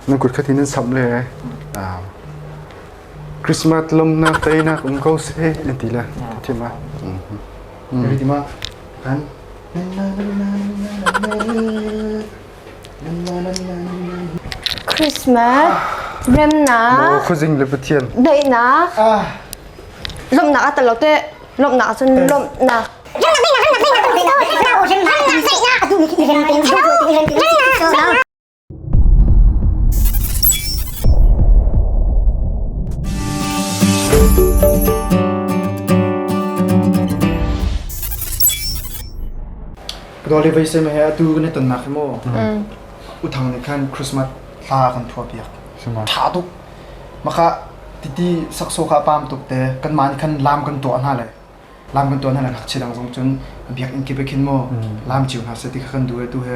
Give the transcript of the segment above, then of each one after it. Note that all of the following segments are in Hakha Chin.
nan kut khat hi nan samh le Christmas lomnak teinak um ko seh an ti le thim a everything ma kan Christmas remnak khuzing le pathian daihnak lomnak a talo te lomnak cun lomnak Rawl i veisem he atu kan i tonnak hi maw uthang nih khan Christmas thla kan thua piak. Suma. Tha tuk. Maka titi sakso ka pam tuk te kanmah nih khan lam kan tuah hna le lam kan tuah hna le ngakchia dang zong cun biak in kip khin maw lam chiu hna se ti kha kan duh e tu he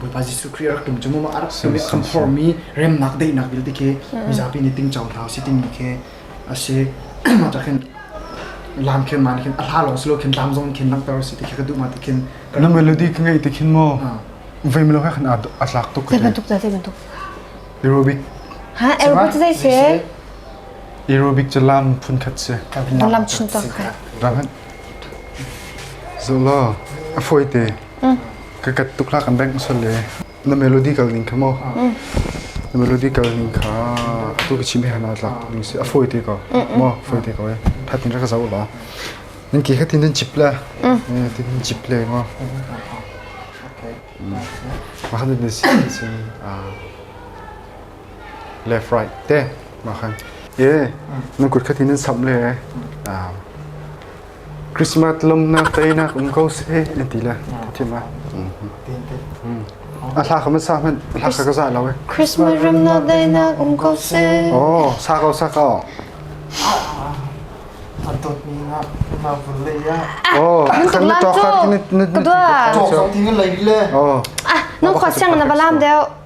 Bawipa Jesuh Khrih a rak tum cungum a rak tum i a khamphormi remnak daihnak vialte khi mizapi nih ting cohla u si timi khi a si mah cah khin lam khin maan khin a hla lawng si lo khin lam zong khin langhter u si ti khi ka duh ma ti khin na melody ka ngei ti khin maw vei melo ka khan a tlak tuk zei bantuk zei bantuk aerobic ha aerobic zei se aerobic ca lam phun khat se lam chun tak Zola, a fawi te. Ka kat tuk la kan bank sol le. Na melody kal ning kha mo. Na melody kal ning kha tu ka chim he na tla ning si a fawi te ko. Mo fawi te ko e. Phat ni ra ka zau la. Ning ki khatin den chip la. Tin chip le ngo. Ma han den si sin ah le fried te ma khan ye nan kut khatin nan sam le Christmas lomnak teinak um ko se an ti le thim a a thla kham sa hman thla ka za lo Christmas lomnak teinak um ko se oh sa ko sa ko Anton pinga ma burle ya oh kan to khat ni ni to khat ting lei le oh no khwa sang na balam deo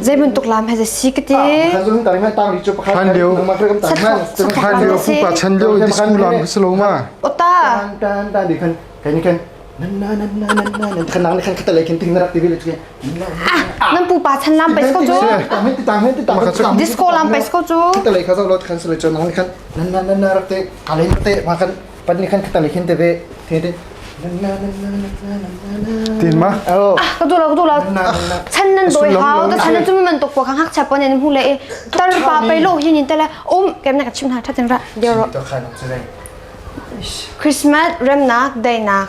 Zeibantuk lam he si ka ti. Hlan lio hlan lio fupa chan lio di school lam ka selo ma. Ota. Tan tan di kan kan ni kan nan na nan na nan na nan kan nang kan kata lai kan ting na rak tivi le kan nan pupa chan lam pais ko jo disco lam pais ko jo kata lai ka zo lot kan sele chon nang kan nan na nan na rak te kalai na te ma kan Pat nih khan khata le khin te ve te te tin ma oh ka tu la ka tu la chan nan doi hao ta chan tu man tok ko khang hak cha pon en mu le tar pa pe lo hin in tala um kem na ka chim na thatin ra deo ro to khan chai christmas remnak day nak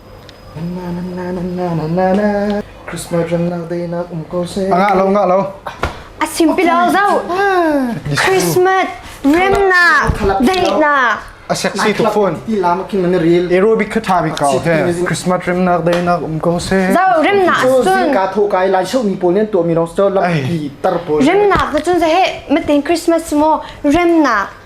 A simpilo zoh. Christmas remnak daihnak. A sexy to phone. Aerobic kha tha bik kau he. Christmas remnak dei nak um ko se. Zo remnak sun. Ka tho kai lai shau mi pol nen to mi rong so lam pi tar pol. Remnak na chun se he matin Christmas mo remnak